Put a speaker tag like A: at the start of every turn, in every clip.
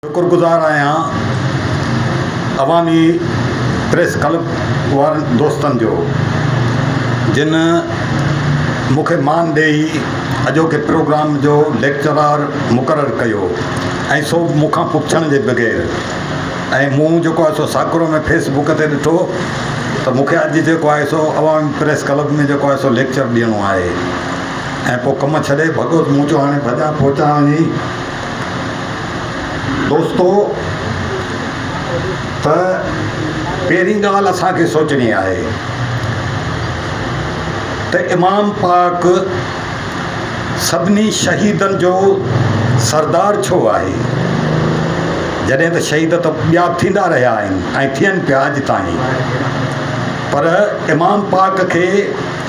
A: شڪرگذار آهيان عوامي پريس ڪلب وارن دوستن جو جن مون کي مان ڏيئي اڄوڪي پروگرام جو ليڪچرار مقرر ڪيو ۽ سو به مون کان پڇڻ جي بغير ۽ مون جيڪو آهي سو ساڪرو ۾ فيس بڪ تي ڏٺو ته مون کي اڄ جيڪو آهي سو عوامي پريس ڪلب ۾ جيڪو آهي سو ليڪچر ڏيڻو آهي ۽ پوء ڪم ڇڏي ڀڳو ته مون چيو هاڻي ڀڄان پهچان وڃي دوستو ته پهرين ڳالهه اسان کي سوچڻي آهي ته امام پاڪ سڀني شهيدن جو سردار ڇو آهي؟ جڏهن ته شهيد ته ٻيا ٿيندا رهيا آهن ۽ ٿين پيا اڄ تائين پر امام پاڪ کي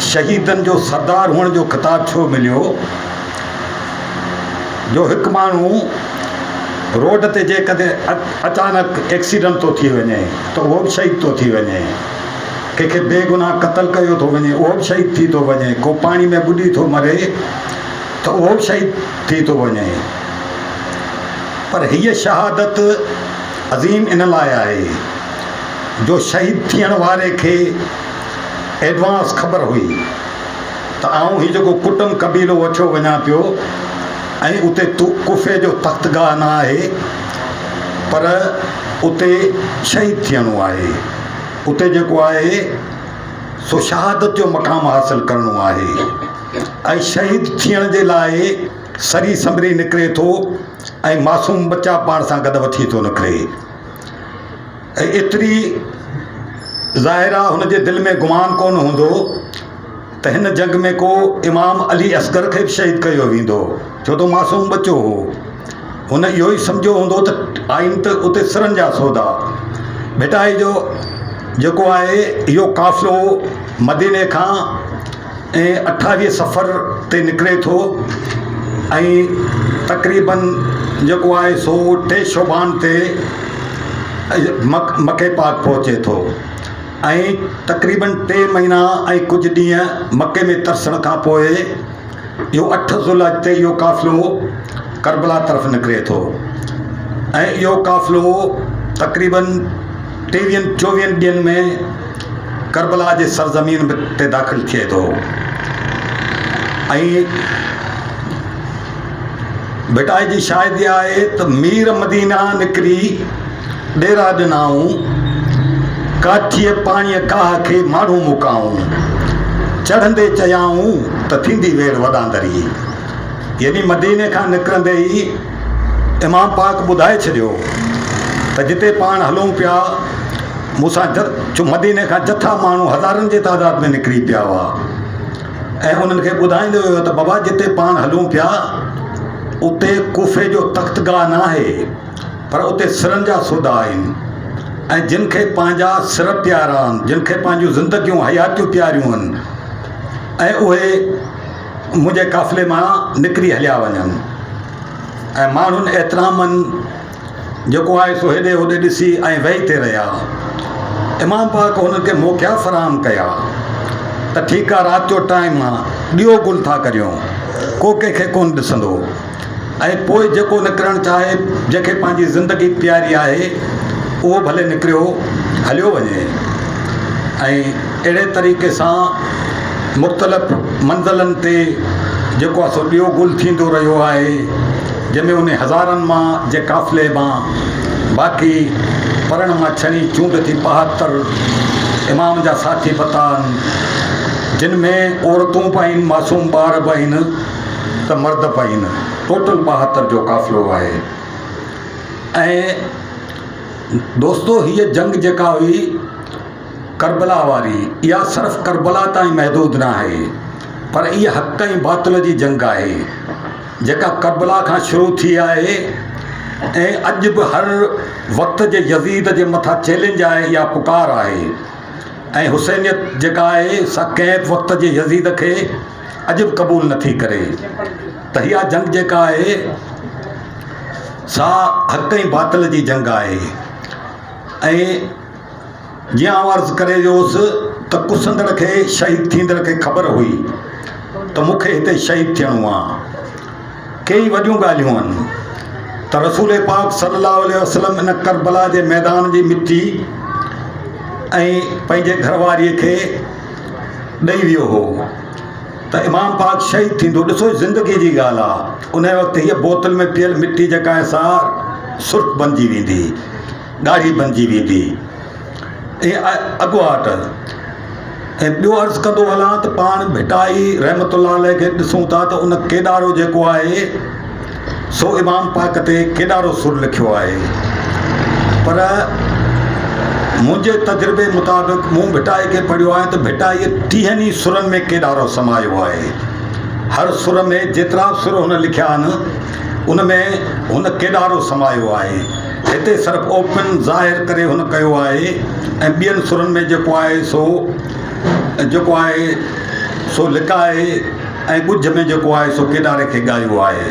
A: شهيدن جو سردار هئڻ جو خطاب ڇو مليو؟ جو هڪ ماڻهو روڊ تي جيڪڏهن اچانڪ ايڪسيڊنٽ ٿو ٿي وڃي ته اهو به شهيد ٿو ٿي وڃي ڪنهن کي بي گناهه قتل ڪيو ٿو وڃي اهو به شهيد ٿي ٿو وڃي ڪو پاڻي ۾ ٻڏي ٿو مري ته اهو به شهيد ٿي ٿو وڃي پر هيء شهادت عظيم ان لاء آهي جو شهيد ٿيڻ واري کي ايڊوانس خبر هئي ته آئون هي جيڪو ڪٽنب قبيلو وٺيو وڃان پيو ۽ اتي ڪوفي جو تختگاهه نه آهي پر اتي شهيد ٿيڻو آهي. اتي جيڪو آهي سو شهادت جو مقام حاصل ڪرڻو آهي ۽ شهيد ٿيڻ جي لاء سري سنبري نڪري ٿو ۽ معصوم ٻچا پاڻ سان گڏ وٺي ٿو نڪري. ۽ ايتري ظاهر آ هن جي دل ۾ گمان ڪونه هوندو ته هن جنگ ۾ ڪو امام علي اصغر کي به شهيد ڪيو ويندو ڇو ته معصوم ٻچو هو هن اهو ئي سمجهيو هوندو ته آئين ته اتي سرن جا سودا ڀٽائي جو جيڪو آهي اهو قافلو مديني کان ۽ اٺاهي سفر تي نڪري ٿو ۽ تقريباً جيڪو آهي سو ٽي شعبان تي مڪي پاڪ پهچي ٿو ۽ تقريباً ٽي مهينا ۽ ڪجهه ڏينهن مڪي ۾ ترسڻ کان پوء اهو اٺ ذوالحج تي اهو قافلو ڪربلا طرف نڪري ٿو ۽ اهو قافلو تقريباً ٽيويهن چوويهن ڏينهن ۾ ڪربلا جي سرزمين تي داخل ٿئي ٿو ۽ ڀٽائي جي شاهدي آهي ته مير مدينه نڪري ڏيرا ڏنائون ڪاٺيء پاڻيء ڪاهه کي ماڻهو مڪائون چڙهندي چيائون ته ٿيندي ويڙهه وڏاندري يعني مديني کان نڪرندي ئي امام پاڪ ٻڌائي ڇڏيو ته جتي پاڻ هلون پيا، مون سان جو مديني کان جٿا ماڻهو هزارن جي تعداد ۾ نڪري پيا هئا ۽ انهن کي ٻڌائيندو ويو ته بابا جتي پاڻ هلون پيا اتي ڪوفي جو تخت گاهه ناهي پر اتي سرن جا سودا آهن ۽ جن کي پنهنجا سر پيارا آهن، جن کي پنهنجون زندگيون، حياتيون پياريون آهن ۽ اهي منهنجي قافلي مان نڪري هليا وڃن ۽ ماڻهن احترامن جيڪو آهي سو هيڏي هوڏي ڏسي ۽ ويهي ٿي رهيا. امام پاڪ هنن کي موقعا فراهم ڪيا ته ٺيڪ آ رات جو ٽائيم آ ڏيئو گل ٿا ڪريون ڪو ڪنهن کي ڪونه ڏسندو. ۽ پوء جيڪو نڪرڻ چاهي، جنهن کي پنهنجي زندگي پياري آهي، اهو ڀلي نڪريو هليو وڃي. ۽ اهڙي طريقي سان مختلف منزلن تي جيڪو آهي سو ڏيو گل ٿيندو رهيو آهي، جنهن ۾ انهي هزارن مان جي قافلي مان باقي پرڻ مان ڇڻي چونڊ ٿي ٻاهتر امام جا ساٿي بتا آهن، جن ۾ عورتون به آهن، معصوم ٻار به آهن. ته مرد پائين ٽوٽل ٻاهتر جو قافلو آهي ۽ دوستو هيء جنگ جيڪا هئي ڪربلا واري اها صرف ڪربلا تائين محدود نه آهي پر اها حق ۽ باطل جي جنگ آهي جيڪا ڪربلا کان شروع ٿي آهي ۽ اڄ به هر وقت جي يزيد جي مٿان چيلنج آهي يا پڪار آهي ۽ حسينيت جيڪا آهي سا ڪنهن وقت جي يزيد کي عجب قبول نه ٿي ڪري ته اها جنگ جيڪا آهي سا حق ۽ باطل جي جنگ آهي ۽ جيئن آئون عرض ڪري ويو هوس ته ڪسندڙ کي شهيد ٿيندڙ کي خبر هئي ته مون کي هتي شهيد ٿيڻو آهي ڪيئي وڏيون ڳالهيون آهن ته رسول پاڪ صلي الله عليه وسلم ان ڪربلا جي ميدان جي مٽي ۽ پنهنجي گهر واريء کي ڏئي ويو هو ته امام پاڪ شهيد ٿيندو. ڏسو هي زندگي جي ڳالهه آ. انهيء وقت هيء بوتل ۾ پيل مٽي جيڪا آهي سا سرخ بنجي ويندي، ڳاڙهي بنجي ويندي. ائين اڳواٽ ۽ ٻيو عرض ڪندو هلان ته پاڻ ڀٽائي رحمة الله عليه کي ڏسون ٿا ته ان ڪيڏارو جيڪو آهي، سو امام پاڪ تي ڪيڏارو سر لکيو آهي پر منهنجي تجربي مطابق مون ڀٽائي کي پڙهيو آهي ته ڀٽائي ٽيهن ئي سرن ۾ ڪيڏارو سمايو آهي هر سر ۾ جيترا به سر هن لکيا آهن ان ۾ هن ڪيڏارو سمايو آهي هتي صرف اوپن ظاهر ڪري هن ڪيو آهي ۽ ٻين سرن ۾ جيڪو آهي سو جيڪو آهي سو لڪائي ۽ ڳجهه ۾ جيڪو آهي سو ڪيڏاري کي ڳايو آهي.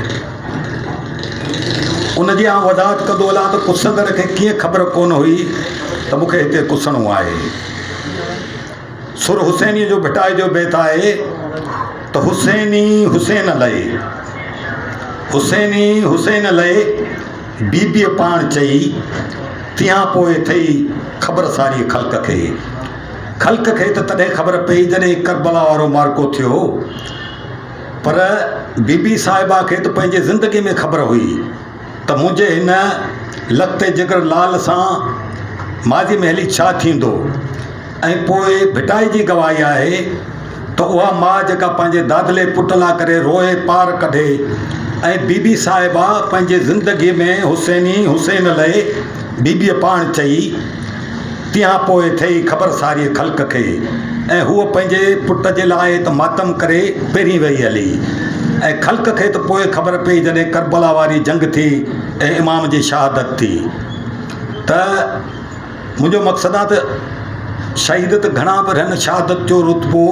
A: ان جي آئون وضاحت ڪندو هلان ته ڪسندڙ کي ڪيئن خبر ڪونه هئي ته مون کي هتي ڪسڻو آهي. سر حسينيء جو ڀٽائي جو بيت آهي ته حسيني حسين لئي حسيني حسين لئي بيبيء پاڻ چئي، تنهان پوء ٿئي خبر ساريء خلق کي. خلق کي ته تڏهن خبر پئي جڏهن ڪربلا وارو معرڪو ٿيو هو. پر بيبي صاحبه کي ته پنهنجي زندگيء ۾ خبر هئي ته منهنجي هن لکتي جگر لال سان ماضيء ۾ هلي ڇا ٿيندو. ۽ پوء ڀٽائي جي گواهي آهي ته اها ماء جيڪا پنهنجي دادلي پٽ لا ڪري روئي پار ڪڍي ۽ بيبي صاحبه پنهنجي زندگي ۾ حسيني حسين لئي بيبيء پاڻ چئي تيها پوء ٿئي خبر ساري خلق کي ۽ هوء پنهنجي پٽ جي لاء ته ماتم ڪري پهرين ويئي هلي ۽ خلق کي ته پوء خبر پئي جڏهن ڪربلا واري جنگ ٿي ۽ امام جي شهادت ٿي ته منهنجو مقصد آ ته شهيد ته گهڻا پر هن شهادت جو رتبو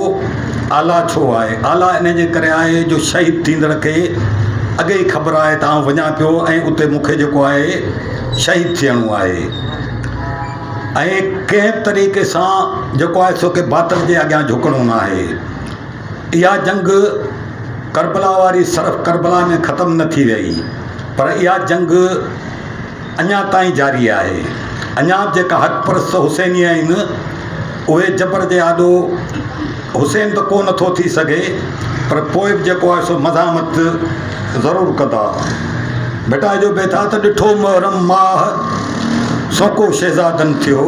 A: اعليٰ ڇو آهي؟ اعليٰ انهيء جي ڪري آهي جو شهيد ٿيندڙ کي اڳي ئي خبر آهي ته آئون وڃان پيو ۽ اتي مون کي جيڪو آهي شهيد ٿيڻو آهي ۽ ڪنهن به طريقي سان جيڪو آهي سو ڪي باطل جي اڳيان جهڪڻو ناهي. اها جنگ ڪربلا واري صرف ڪربلا ۾ ختم نه ٿي رهي پر اها جنگ اڃا تائين جاري آهي. اڃا به جيڪا حق پرست حسيني آهن، اهي جبر جي آڏو حسين ته ڪو نه ٿو ٿي سگهي، پر پوء به جيڪو آهي سو مزاحمت ضرور ڪندا. ڀٽائجو به ٿا ته ڏٺو محرم ماهه، سوڪو شهزادن ٿيو.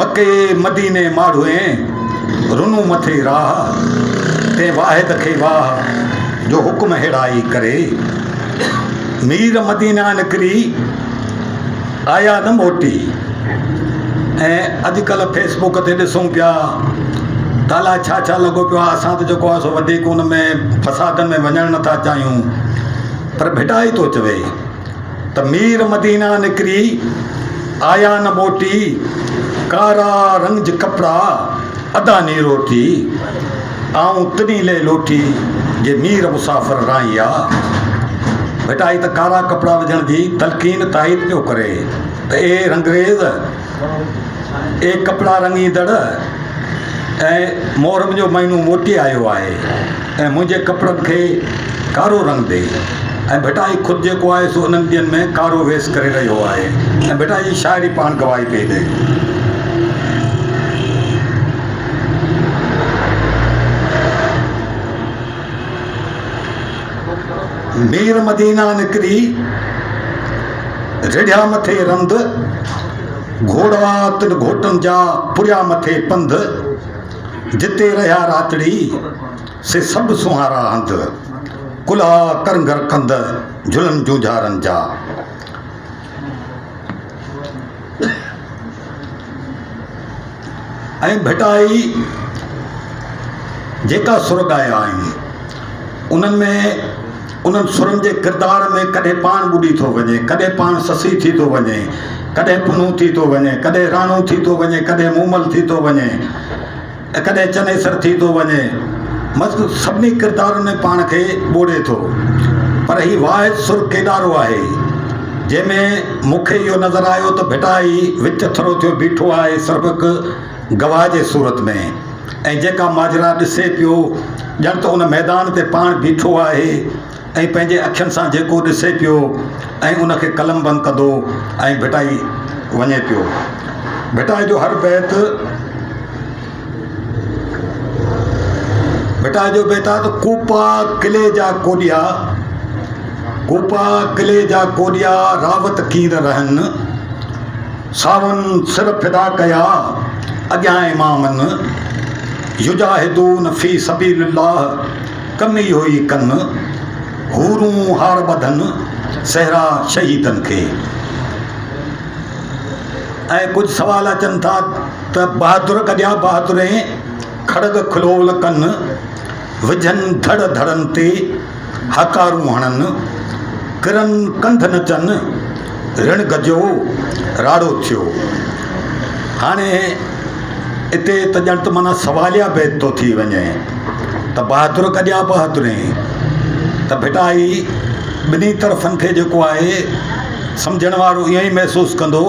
A: مڪي مديني ماڙهوئين، رنون مٿي راهه. تنهن واحد کي واهه، جو حڪم هيڙائي ڪري. مير مدينه نڪري آيا نه موٽي ۽ اڄ ڪلهه فيس بوڪ تي ڏسون پيا ته الا ڇا ڇا لڳو پيو آهي اسان ته جيڪو آهي سو وڌيڪ ان ۾ فسادن ۾ وڃڻ نٿا چاهيون پر ڀٽائي ٿو چوي ته مير مدينه نڪري آيا نه موٽي ڪارا رنج ڪپڙا ادا نيرو ٿي آئون تڏهين لئي لوٽي جي نير مسافر رائين آ. ڀٽا هي ته ڪارا ڪپڙا وجهڻ جي تلقين تائيد پيو ڪري ته اي رنگريز اي ڪپڙا رڱيندڙ اي محرم جو مهينو موٽي آيو آهي. ۽ منهنجي ڪپڙن کي ڪارو رنگ ڏئي ۽ ڀٽائي خود جيڪو آهي سو انهن ڏينهن ۾ ڪارو ويس ڪري رهيو آهي ۽ ڀٽائي جي شاعري پاڻ گواهي پئي ڏئي. مير مدينه نڪري رڙهيا مٿي رند گهوڙا تن گهوٽن جا پريا مٿي پنڌ جتي رهيا راتڙي، سي سڀ سونهارا هنڌ، ڪلها ڪرنگهر ڪنڌ، جهلن جونجهارن جا. ۽ ڀٽائي جيڪا سر ڳايا آهن، انهن ۾ انهن سرن جي ڪردار ۾ ڪڏهن پاڻ ٻڏي ٿو وڃي، ڪڏهن پاڻ سسي ٿي ٿو وڃي، ڪڏهن پنهون ٿي ٿو وڃي، ڪڏهن راڻو ٿي ٿو وڃي، ڪڏهن مومل ٿي ٿو وڃي ۽ ڪڏهن چنيسر ٿي ٿو وڃي. مذڪور سڀني ڪردارن ۾ پاڻ کي ٻوڙي ٿو. پر هي واحد سر ڪيڏارو آهي؟ جنهن ۾ مون کي اهو نظر آيو ته ڀٽائي وچ ٿرو ٿيو بيٺو آهي، سربڪ، گواهه جي صورت ۾ ۽ جيڪا ماجرا ڏسي پيو ڄڻ ته ان ميدان تي پاڻ بيٺو آهي ۽ پنهنجي اکين سان جيڪو ڏسي پيو ۽ ان کي قلمبند ڪندو ۽ ڀٽائي وڃي پيو. ڀٽائي جو هر بيت ڀٽائي جو بيت آهي ته ڪوپا قلعي جا ڪوڏيا ڪوپا قلعي جا ڪوڏيا راوت ڪير رهن. ساون سر فدا ڪيا اڳيان امامن، يجاهدون في سبيل الله ڪم اهو ئي ڪن، حورون هار ٻڌن سهرا شهيدن کي. ۽ ڪجهه سوال اچن ٿا ته بهادر ڪجيا بهادرين کڙڳ کلول ڪن، وجهن ڌڙ ڌڙن تي. هاڪارون هڻن، ڪرن ڪنڌ نچن، رڻ گجيو، راڙو ٿيو. هاڻي اتي ته ڄڻ ته معنيٰ سواليه بيت ٿو ٿي وڃي ته بهادر گجيا بهادرين ته ڀٽا هي ٻنهي طرفن کي جيڪو آهي سمجهڻ وارو ائين ئي محسوس ڪندو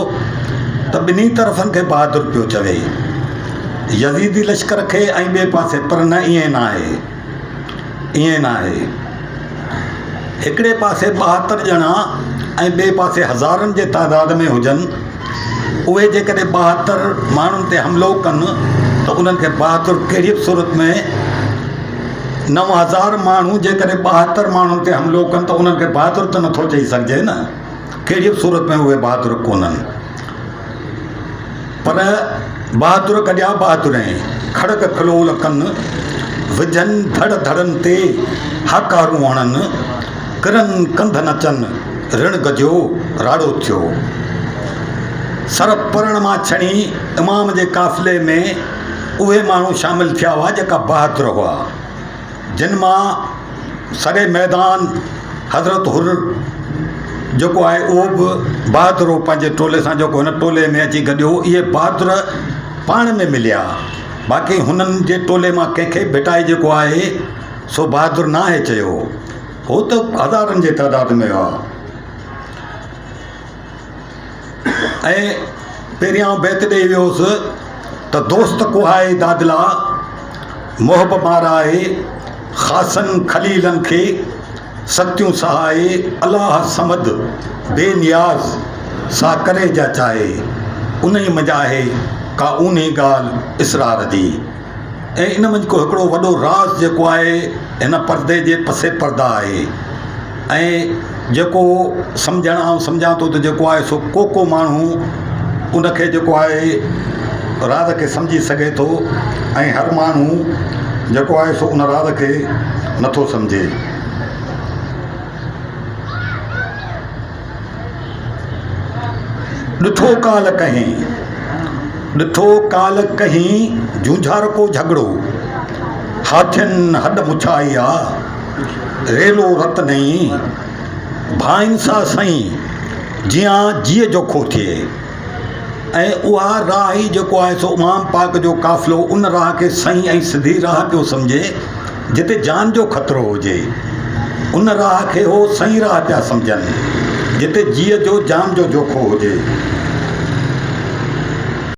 A: ته ٻنهي طرفن کي بهادر پيو چوي. يزيدي لشڪر کي ۽ ٻئي پاسي پر نه ائين ناهي. ائين نه آهي. هڪڙي پاسي ٻاهتر ڄڻا ۽ ٻئي پاسي هزارن جي تعداد ۾ هجن، اهي جيڪڏهن ٻاهتر ماڻهن تي حملو ڪن ته انهن کي بهادر ڪهڙيء به صورت ۾، نو هزار ماڻهو جيڪڏهن ٻاهتر ماڻهن تي حملو ڪن ته انهن کي بهادر ته نٿو چئي سگهجي نه، ڪهڙيء به صورت ۾ اهي بهادر ڪونهن. پر بهادر ڪڏهن بهادر ۽ کڙڪ کلول ڪن وجهن ڌڙ ڌڙن تي هاڪارون هڻن ڪرن ڪنڌ نچن رڻ گجيو راڙو ٿيو سر پرڻ مان ڇڻي امام جي قافلي ۾ اهي ماڻهو شامل ٿيا هئا جيڪا بهادر هئا جن مان سري ميدان حضرت حر جيڪو آهي اهو به بهادر هو پنهنجي ٽولي سان جيڪو هن ٽولي ۾ اچي گڏ هو اهي بهادر پاڻ ۾ مليا باقي هنن جي ٽولي مان ڪنهن کي ڀٽائي جيڪو آهي سو بهادر نه آهي چيو هو هو ته هزارن جي تعداد ۾ هئا ۽ پهريائون بيت ڏئي ويو هوس ته دوست ڪوهائي دادلا، محب مارائي، خاصن خليلن کي، سختيون سهائي، الله صمد، بي نياز، سا ڪري جا چاهي، انهي منجهه آهي، ڪا اونهي ڳالهه اسرار جي. ۽ ان منجھ ڪو هڪڙو وڏو راز جيڪو آهي هن پردي جي پسي پرده آهي ۽ جيڪو سمجھڻ آئون سمجھان ٿو ته جيڪو آهي سو ڪو ڪو ماڻهو ان کي جيڪو آهي راز کي سمجھي سگھي ٿو ۽ هر ماڻهو جيڪو آهي سو ان راز کي نٿو سمجھي. ڏٺو ڪالهه ڪهين، ڏٺو ڪالهه ڪهين جونجهارڪو جهڳڙو، هاٿين هڏ مڇائي آ، ريلو رت نئين، ڀائين سا سئين، جيان جيء جوکو ٿئي. ۽ اها راهه ئي جيڪو آهي سو امام پاڪ جو قافلو ان راهه کي سهين ۽ سڌي راهه پيو سمجهي جتي جان جو خطرو هجي. ان راهه کي هو سهين راهه پيا سمجهن جتي جيء جو جان جو جوکو هجي.